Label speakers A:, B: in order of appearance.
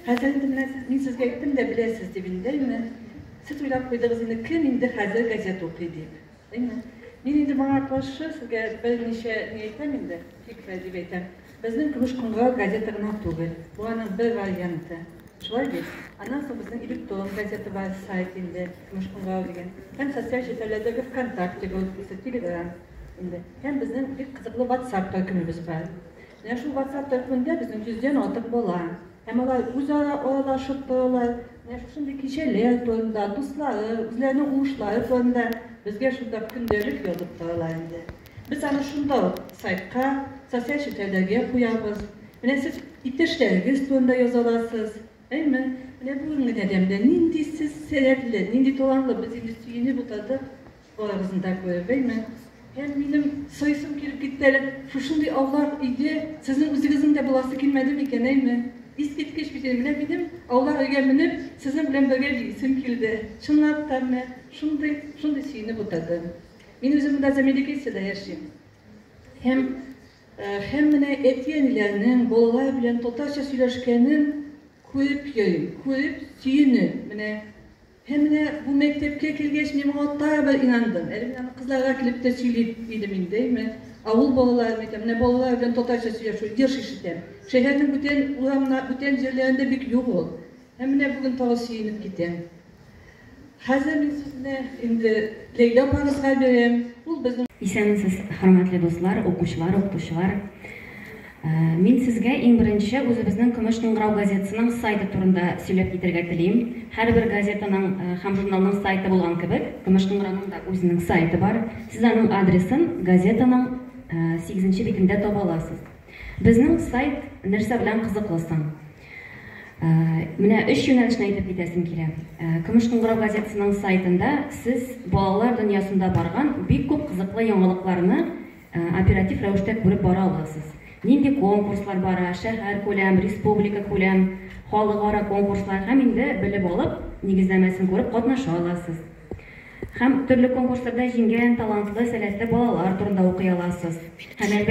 A: Хәзер инде менә сез, мин сезгә әйттем дә, беләсез дип инде, әйме? Сез уйлап куйдыгыз инде, кем инде хәзер газета укый дип, әйме? Мин инде моңа каршы сезгә берничә ни әйтәм инде, фикер дип әйтәм. Безнең Көмеш кыңгырау газета гына түгел, бу аның бер варианты. Шулай бит? Аннан соң безнең электрон газета бар, сайт инде, Көмеш кыңгырау дигән. Һәм социаль челтәрләрдәге ВКонтакте группасы, Телеграм инде. Һәм безнең бик кызыклы WhatsApp төркемебез бар. Менә шул WhatsApp төркемендә безнең йөздән артык бала. Һәм алар үзара аралашып торалар. Менә шушындый кичәләр турында, дуслары, үзләренең уңышлары турында безгә шунда көндәлек язып торалар инде. Без аны шунда ук сайтка, социаль челтәрләргә куябыз. Менә сез иптәшләрегез турында яза аласыз. Әйме? Менә бүгенге тәдәмдә нинди сез сәләтле, нинди талантлы, без инде сөенеп утырдык. Балаларыбызны да күрә белмим һәм минем соесым килеп китте әле, шушындый авлар өйдә сезнең үзегезнең дә буласы килмәде микән, әйме? Искиткеч бит инде, менә минем авлар өйгә менеп, сезнең белән бергә биисем килде. Чынлап та, менә шундый, шундый сөенеп утырдым. Мин үзем монда Замеделициядә яшим. Һәм, һәм менә әти-әниләрнең балалар белән татарча сөйләшкәнен күреп йөрим, күреп сөенеп, менә Һәм менә бу мәктәпкә килгәч, мин моңа тагы бер инандым. Әле мин аны кызларга килеп тә сөйли идем инде, әйме, авыл балалары микән, менә балалар белән татарча сөйләшү, еш ишетәм. Шәһәрнең бүтән урамнар, бүтән җирләрендә бик юк ул. Һәм менә бүген тагы сөенеп китәм. Хәзер мин сүзне инде Ләйлә апагызга бирәм. Ул безнең. Исәнмесез, хөрмәтле
B: дуслар, укучылар, укытучылар! Мин сезгә иң беренче үзебезнең Көмеш кыңгырау газетасының сайты турында сөйләп китәргә телим. Һәрбер газетаның һәм журналның сайты булган кебек, Көмеш кыңгырауның да үзенең сайты бар. Сез аның адресын газетаның сигезенче битендә таба аласыз. Безнең сайт нәрсә белән кызыклы соң? Менә өч юнәлешне әйтеп китәсем килә. Көмеш кыңгырау газетасының сайтында сез балалар дөньясында барган бик күп кызыклы яңалыкларны Оператив рәвештә күреп бара аласыз. Нинди конкурслар бара, шәһәркүләм, республикакүләм, халыкара конкурслар һәм инде белеп алып, нигезләмәсен күреп катнаша аласыз. Һәм төрле конкурсларда җиңгән талантлы, сәләтле балалар турында укый аласыз. Һәм әлбәттә.